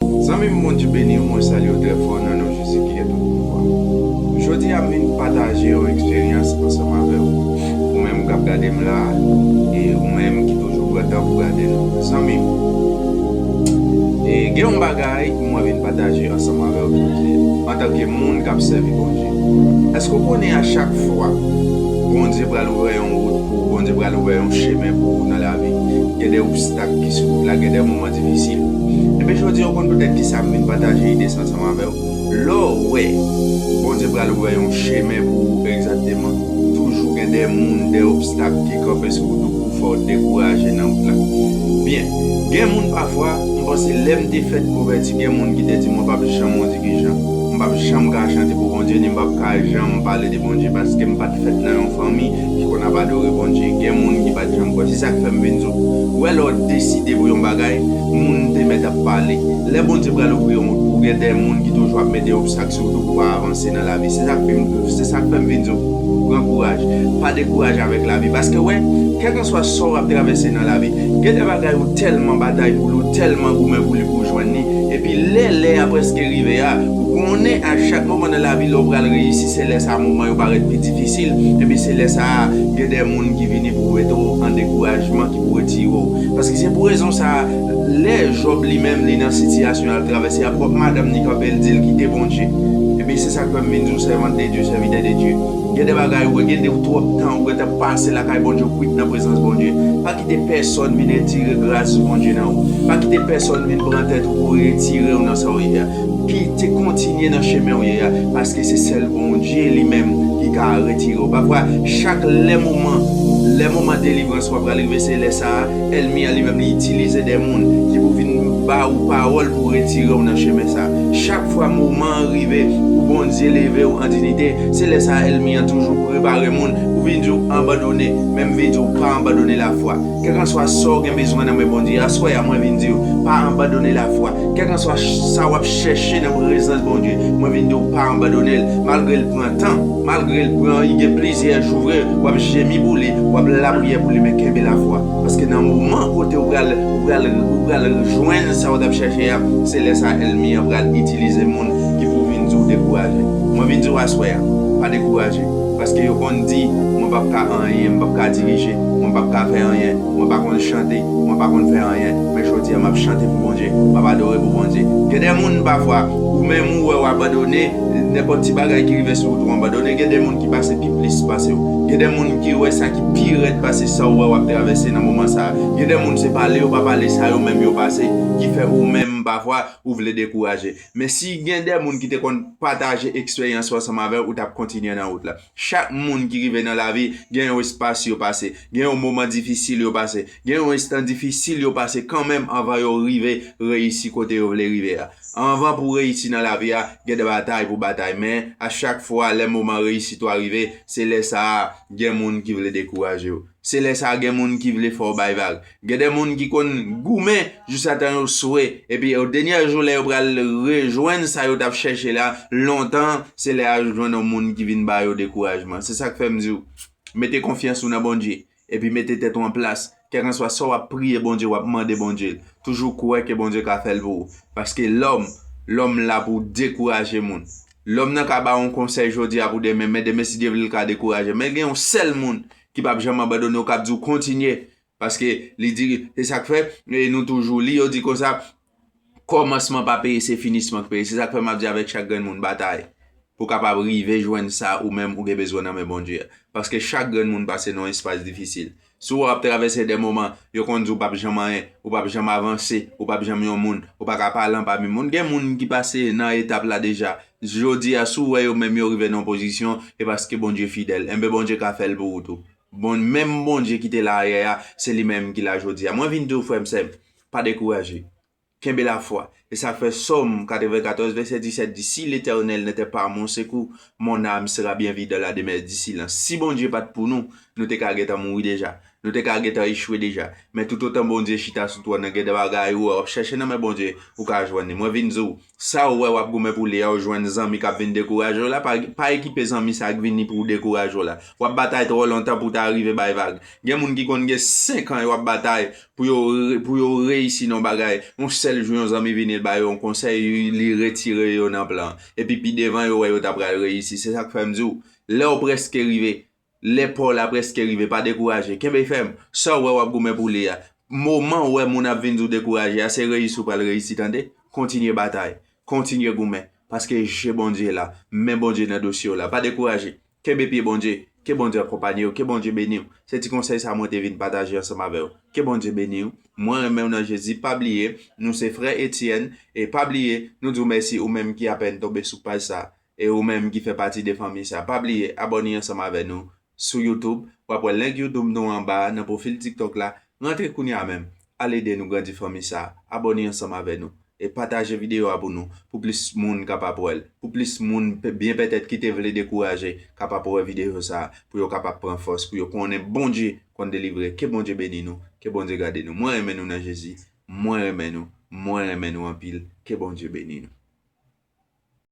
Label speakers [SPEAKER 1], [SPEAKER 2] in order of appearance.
[SPEAKER 1] Zanmim Bondye beniw mwen salyew trè fò nan non Jezi ki gen tout pouvwa. Jodi a m vin pataje yon eksperyans ansanm avèw. Ou menm kap gadem la e ou menm ki toujou pran tan pou gade nou. Zanmim Gen yon bagay mwen vin pataje ansanm avèw jodi antanke moun kap sèvi Bondye. Eske ou konnen a chak fwa Bondye pral ouvè yon wout pou ou Bondye pral ouvè yon chemen pou ou nan lavi gen de obstak ki sou wout la gen de moman difisil. Ebyen jodi a ou konn petèt kisa m vin pataje ide sa ansanm avè w, lè w wè Bondye pral ouvè yon chemen pou ou egzakteman, toujou gen de moun, de obstak ki kanpe sou wout ou pou fè w dekouraje nan wout la. Byen, gen moun pafwa, m panse lè m te fèt konvèti gen moun ki te di mwen p ap janm yon dirijan, m p ap janm ka chante pou Bondye ni m p ap ka janm pale de Bondye paske m pa t fèt nan yon fanmi ki konn ap adore Bondye gen moun ki pat janm kwè se sak fèm vin di w wè lè w deside pou yon bagay moun te mèt ap pale lè Bondye pral ouvri yon wout pou w gen de moun ki toujou ap mete obstak sou wout ou pou pa avanse nan lavi se sak fim se sak fèm vin di w pran kouraj pa dekouraje avèk lavi paske wè kèlkanswa sa w ap travèse nan lavi gen de bagay ou tèlman batay pou li w tèlman goumen pou li pou w jwenn li epi lè lè a preske rive a Ou konnen a chak moman nan lavi lè ou pral reyisi se lè sa moman yo parèt pi difisil, enben se lè sa a gen de moun ki vini pou mete w an dekourajman ki pou retire w. Paske se pou rezon sa a lè Jòb li menm li nan sitiyasyon l ap travèse a pwòp madanm li kanpe l di l kite Bondye. Enben se sa k fè m vin di w sèvant de Dye, sèvitè de Dye, gen de bagay ou wè gen de ou twòp tan ou gentan pase lakay Bondye ou kwit nan prezans Bondye. Pa kite pèsòn vin etire gras Bondye nan ou. Pa kite pèsòn vin pran tèt ou pou retire w nan sa w ye a. Pite kontinye nan chemen ou ye a paske se sèl Bondye li menm ki ka retire ou pa vwa chak lè moman lè moman delivrans ou a pral rive se lè sa a èlmi an li menm li itilize de moun ki pou vin ba ou pawòl pou retire ou nan chemen sa a chak fwa moman an rive pou Bondye leve ou an dinite se lè sa a èlmi an toujou prepare moun pou vin di ou anbandone menm vin di ou pa anbandone lafwa kèkanswa sa ou gen bezwen nan men Bondye aswè a mwen vin di ou pa anbandone lafwa. Kèlkanswa sa wap chèche nan prezans Bondye, mwen vin di w pa anbandone l, malgre l pran tan, malgre l pran li gen plizyè jou vre, wap jemi pou li, wap lapriyè pou li men kenbe lafwa, paske nan moman kote ou pral ou pral ou pral jwenn sa ou tap chèche a, se lè sa èlmi an pral itilize moun ki pou vin di w dekouraje. Mwen vin di w aswè a, pa dekouraje, paske yo konn di mwen pap ka anyen, m pap ka dirije, mwen pap ka fè anyen, Mwen pa konn chante, mwen pa konn fè anyen, men jodi a map chante pou Bondye, map adore pou Bondye. Gen de moun pafwa ou menm ou wè ou abandone, nenpòt ti bagay ki rive sou ou tou anbandone, gen de moun ki pase pi plis pasew, gen de moun ki wè sa ki pi rèd pase sa ou wè wap travèse nan moman sa, gen de moun se pale yo pa pale sa yo menm yo pase ki fè ou menm pafwa ou vle dekouraje. Men si gen de moun ki te konn pataje eksperyans yo ansanm avèw ou tap kontinye nan wout la. Chak moun ki rive nan lavi gen yon espas yo pase, gen yon moman difisil yo pase, gen yon enstan difisil yo pase kanmenm anvan yo rive reyisi kote yo vle rive a. Anvan pou w reyisi nan lavi a, gen de batay pou w batay men a chak fwa lè moman reyisit ou a rive, se lè sa a gen moun ki vle dekouraje w. Se lè sa a gen moun ki vle fè w bay vag. Gen de moun ki konn goumen jousatan yo swe, epi o denyè jou lè yo pral rejwenn sa yo t ap chèche la lontan, se lè a yo jwenn yon moun ki vin ba yo dekourajman. Se sa k fè m di w, mete konfyans ou nan Bondye, epi mete tèt ou an plas. Kèkanswa sa w ap priye Bondye, w ap mande Bondye, toujou kwè ke Bondye ka fè l pou ou. Paske lòm, lòm la pou dekouraje moun. Lòm nan ka ba w yon konsèy jodi a pou demen, men demen si Dye vle l ka dekouraje. Men gen yon sèl moun ki p ap janm abandone w, k ap di w kontinye, Paske li di, se sa k fè, nou toujou li, yo di konsa, kòmansman pa peye, se finisman ki peye. Se sa k fè m ap di avèk chak grenn moun, batay pou w kapab rive jwenn sa ou menm ou gen bezwen nan men Bondye a. Paske chak grenn moun pase nan yon espas difisil. Si w ap travèse de moman, yo konn di w pa p janm anyen, ou pa p janm avanse, ou pa p janm yon moun, ou pa ka palan pami moun. Gen moun ki pase nan etap la deja. Jodi a, si w wè yo menm yo rive nan yon pozisyon, e paske Bondye fidèl. Enben Bondye ka fè l pou ou tou. Bon menm Bondye ki te la ayè a se li menm ki la jodi a mwen vin di w frè m sè m pa dekouraje kenbe lafwa e sa k fè Sòm 94 vèsè 17 di si letènèl nè tè pa mon sekou mon àm sera byen vi dan la demè di silans si Bondye pat pou nou nou te ka gentan mouri deja nou te ka gentan echwe deja men toutotan Bondye chita sou twòn nan gen de bagay ou wè wap chèche nan men Bondye ou ka jwenn li mwen vin di w Sa ou wè wap goumen pou li a ou jwenn zanmi kap vin dekouraje w la, pa ekipe zanmi sa k vini pou dekouraje w la. Wap batay twò lontan pou w ta rive bay vag. Gen moun ki konn gen 5 an yo ap batay pou yo pou yo reyisi nan yon bagay, yon sèl jou yon zanmi vini l ba yo yon konsèy li retire yo nan plan an. Epi pi devan yo wè yo ta pral reyisi. Se sak fè m di w lè w prèske rive Lè pa w la prèske rive, pa dekouraje. Kenbe fèm. Sa w wè w ap goumen pou li a, moman w wè moun ap vin di w dekouraje a, se reyisi w pral reyisi tande. Kontinye batay. Kontinye goumen. Paske je Bondye la, men Bondye nan dosye w la. Pa dekouraje. Kenbe pye Bondye. Ke Bondye akonpanye w. Ke Bondye beni w. Se ti konsèy sa mwen te vin pataje ansanm avè w. Ke Bondye beni w. Mwen renmen w nan Jezi. Pa bliye, nou se frè Etienne. E pa bliye, nou di w mèsi ou menm ki apèn tonbe sou paj sa. E ou menm ki fè pati de fanmi sa pa bliye abòne ansanm avè nou sou youtube wap wè link youtube nou anba nan pwofil tiktok la rantre kounya menm al ede nou grandi fanmi sa abòne ansanm avè nou e pataje video a pou nou pou plis moun kapab wèl pou plis moun byen pètèt kite vle dekouraje kapab wè video sa pou yo kapab pran fòs pou yo konnen Bondye konn delivre ke Bondye beni nou ke Bondye gade nou mwen renmen nou nan Jezi mwen renmen nou mwen renmen nou anpil ke Bondye beni nou.